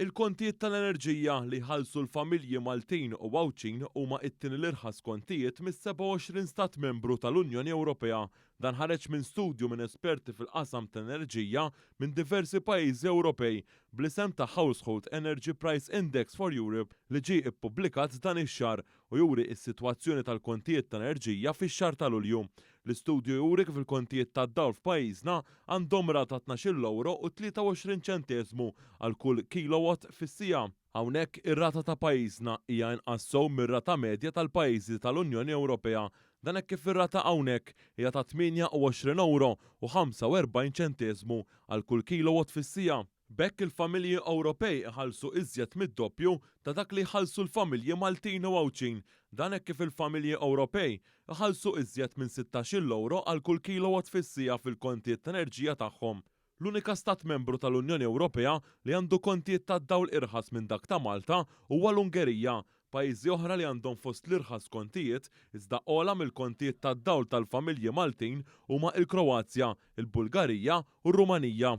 Il-kontijiet tal-enerġija li jħallsu l-familji Maltin u Għawdxin huma t-tieni l-irħas kontijiet mis-27 Stat Membru tal-Unjoni Ewropea. Dan ħareġ minn studju minn esperti fil-qasam tal-enerġija minn diversi pajjiżi Ewropej bl-isem ta' Household Energy Price Index for Europe li ġie ppubblikat dan ix-xahar u juri s-sitwazzjoni tal-kontijiet tal-enerġija fix-xahar ta' Lulju. L-istudju juri kif il-kontijiet tad-dawl f'pajjiżna għandhom rata ta' tnax-il ewro u 23 ċenteżmu għal kull kilowatt fis-siegħa. Hawnhekk ir-rata ta' pajjiżna hija inqas sew mir-rata medja tal-pajjiżi tal-Unjoni Ewropea. Dan hekk kif ir-rata hawnhekk hija ta' 28 ewro u 45 ċenteżmu għal kull kilowatt fis-siegħa. B'hekk il-familji Ewropej iħallsu iżjed mid-doppju ta' dak li jħallsu l-familji Maltin u Għawdxin. Dan hekk kif il-familji Ewropej iħallsu iżjed minn sittax-il ewro għal kull kilowatt fis-siegħa fil-kontijiet ta' enerġija tagħhom. L-unika Stat Membru tal-Unjoni Ewropea li għandu kontijiet tad-dawl irħas minn dak ta' Malta huwa l-Ungerija. Pajjiżi oħra li għandhom fost l-irħas kontijiet, iżda ogħla mill-kontijiet tad-dawl tal-familji Maltin huma il-Kroazja, il-Bulgarija u r-Rumanija.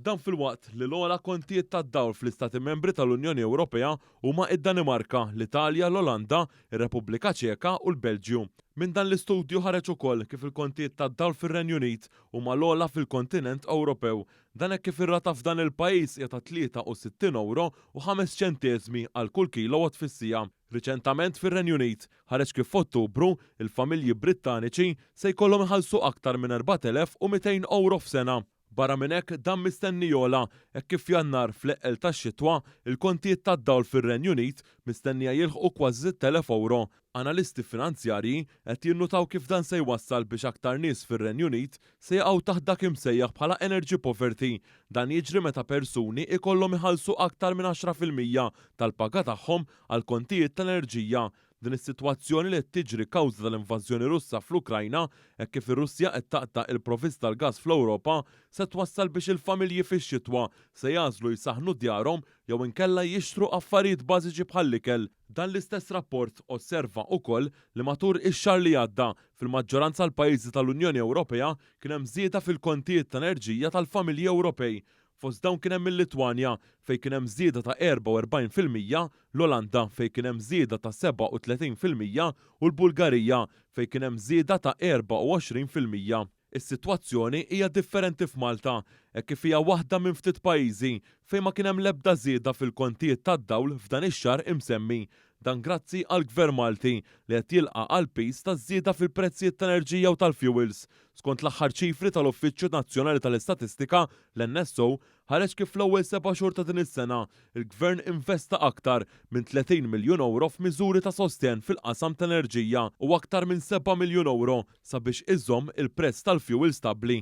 Dan filwaqt li l-ogħla kontijiet tad-dawl fl-Istati Membri tal-Unjoni Ewropea huma id-Danimarka, l-Italja, l-Olanda, ir-Repubblika Ċeka u l-Belġju. Minn dan l-istudju ħareġ ukoll kif il-kontijiet tad-dawl fir-Renju Unit huma l-ogħla fil-kontinent Ewropew. Dan hekk kif ir-rata f'dan il-pajjiż hija ta' 63 ewro u ħames ċenteżmi għal kull kilowatt fis-siegħa. Riċentament fir-Renju Unit ħareġ kif f'Ottubru, il-familji Brittaniċi se jkollhom iħallsu aktar minn 4,200 ewro f'sena. Barra minn hekk, dan mistenni jogħla hekk kif f'Jannar, fl-eqqel tax-xitwa, il-kontijiet tad-dawl fir-Renju Unit mistennija jilħqu kważi sitt elef ewro. Analisti finanzjarji qed jinnutaw kif dan se jwassal biex aktar nies fir-Renju Unit se jaqgħu taħt dak imsejjaħ bħala energy poverty. Dan jiġri meta persuni jkollhom iħallsu aktar minn għaxra fil-mija tal-paga tagħhom għall-kontijiet tal-enerġija. Din is-sitwazzjoni li qed tiġri kawża tal-invażjoni Russa fl-Ukrajna, hekk kif ir-Russja qed taqta' il-provvist tal-gass fl-Ewropa, se twassal biex il-familji fix-xitwa se jagħżlu jsaħħnu djarhom jew inkella jixtru affarijiet bażiċi bħall-ikel. Dan l-istess rapport osserva ukoll li matur ix-xahar li għadda, fil-maġġoranza l-pajjiżi tal-Unjoni Ewropea kien hemm żieda fil-kontijiet ta' enerġija tal-familji Ewropej, Fost dawn kien hemm il-Litwanja, fejn kien hemm żieda ta' 44 fil-mija, l-Olanda, fejn kien hemm żieda ta' 37 fil-mija, u l-Bulgarija, fejn kien hemm żieda ta' 24 fil-mija. Is-sitwazzjoni hija differenti f'Malta, hekk kif hija waħda minn ftit pajjiżi fejn ma kien hemm l-ebda żieda fil-kontijiet tad-dawl f'dan ix-xahar imsemmi. Dan grazzi għall-Gvern Malti li qed jilqa' għall-piż taż-żieda fil-prezzijiet tal-enerġija u tal-fjuwils, Skont l-aħħar ċifri tal-Uffiċċju Nazzjonali tal-Istatistika, l-NSO, ħareġ kif fl-ewwel seba' xhur ta' din is-sena, il-Gvern investa aktar minn 30 miljun ewro f'miżuri ta' sostenn fil-qasam tal-enerġija u aktar minn seba' miljun ewro sabiex iżomm il-prezz tal-fjuwil stabbli.